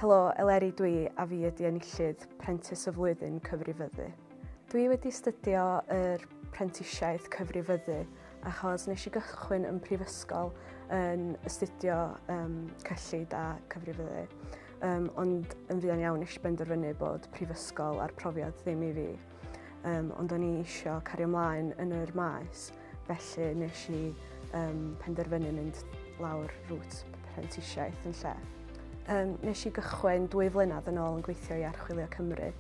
Helo, Eleri dwi a fi ydi enillydd Prentis y Flwyddyn Cyfrifyddu. Dwi wedi stydio yr prentisiaeth cyfrifyddu achos nes i gychwyn yn prifysgol yn astudio um, cyllid a cyfrifyddu. Um, ond yn fuan iawn nes i benderfynu bod prifysgol a'r profiad ddim i fi. um, ond o'n i eisiau cario ymlaen yn yr maes, felly nes i um, penderfynu mynd lawr rŵt prentisiaeth yn lle. Um, nes i gychwyn dwy flynedd yn ôl yn gweithio i Archwilio Cymru.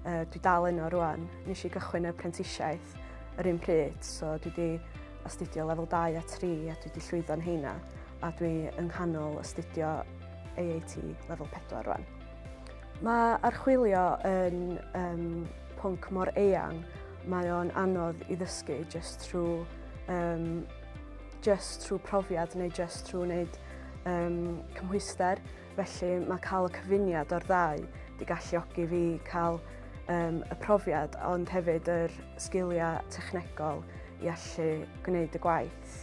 Uh, dwi dal yno rwan. Nes i gychwyn y prentisiaeth yr un pryd, so dwi wedi astudio lefel 2 a 3 a dwi wedi llwyddo'n heina a dwi yng nghanol astudio AAT lefel 4 rwan. Mae archwilio yn um, pwnc mor eang, mae o'n anodd i ddysgu just trwy, um, just trwy profiad neu just trwy wneud um, cymhwyster. Felly mae cael y cyfuniad o'r ddau wedi galluogi fi cael um, y profiad ond hefyd yr sgiliau technegol i allu gwneud y gwaith.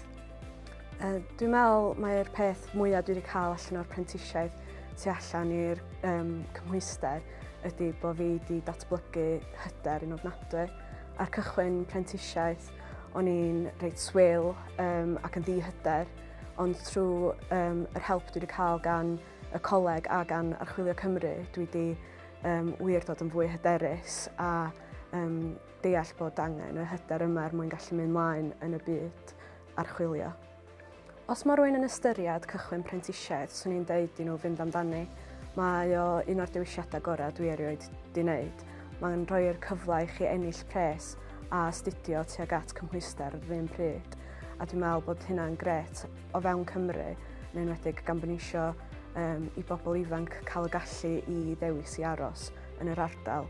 Uh, dwi'n meddwl mae'r peth mwyaf dwi wedi cael allan o'r prentisiaeth tu allan i'r um, cymhwyster ydy bod fi wedi datblygu hyder yn ofnadwy. Ar cychwyn prentisiaeth, o'n i'n reit swil um, ac yn ddihyder, ond trwy um, yr help dwi wedi cael gan y coleg a gan Archwilio Cymru, dwi wedi um, wir dod yn fwy hyderus a um, deall bod angen y hyder yma er mwyn gallu mynd mlaen yn y byd archwilio. Os mae rwy'n yn ystyried cychwyn prentisiaeth, swn i'n deud i nhw fynd amdani. Mae o un o'r dewisiadau gorau dwi erioed di wneud. Mae'n rhoi'r cyfle i chi ennill pres a astudio tuag at cymhwyster yr un pryd. A dwi'n meddwl bod hynna'n gret o fewn Cymru, yn enwedig gan bod eisiau um, i bobl ifanc cael y gallu i ddewis i aros yn yr ardal